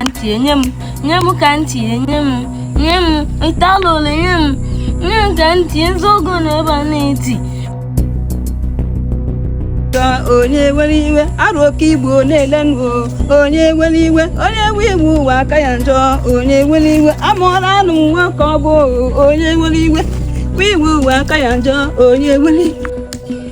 ntị enye m nye m ka ntị enye m nye m ntalụlụ nye m nye m ka ntị ezi ogo na ebe a na-eti ka onye were iwe Arọ oke igbo na-ele nụ onye were iwe onye we iwu ụwa aka ya njọ onye were iwe amụọla anụ nwa ka ọ bụ onye were iwe we iwu ụwa aka ya njọ onye were iwe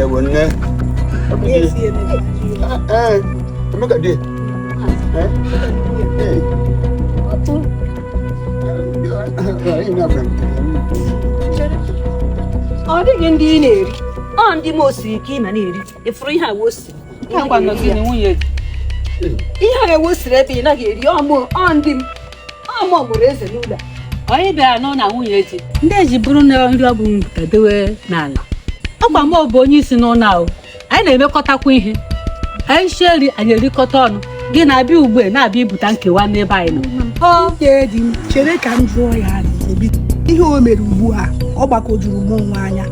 Ewe nne. Ee, Emeka di. Ọ dịghị nri ị na-eri. Ọ nri m siri ka ị na-eri. Ị fụrụ ihe a wo siri. Ihe a wo siri ebe ị naghị eri ọmụ ọ ndị m. ọ mụ mụrụ eze n'ụlọ a anyị bịara nọ na nwunye di ndị eji bụrụ na nri ọ bụ m buta dewe n'ala ọ kwa mụ bụ onye isi n'ụlọ ahụ anyị na-emekọtakwa ihe anyị sie nri anyị erikọta ọnụ gị na-abịa ugbu a na-abịa ibute nkewa n'ebe anyị nọ ọ ga-edi m chere ka m jụọ ya ajụjụ biko. ihe o mere ugbu a ọ gbagwojuru mụnwa anya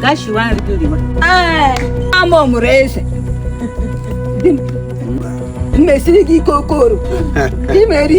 ga shiwa nri gị riwa ee ama ọ mụrụ eze di m mmesiri gị ike okoro imeri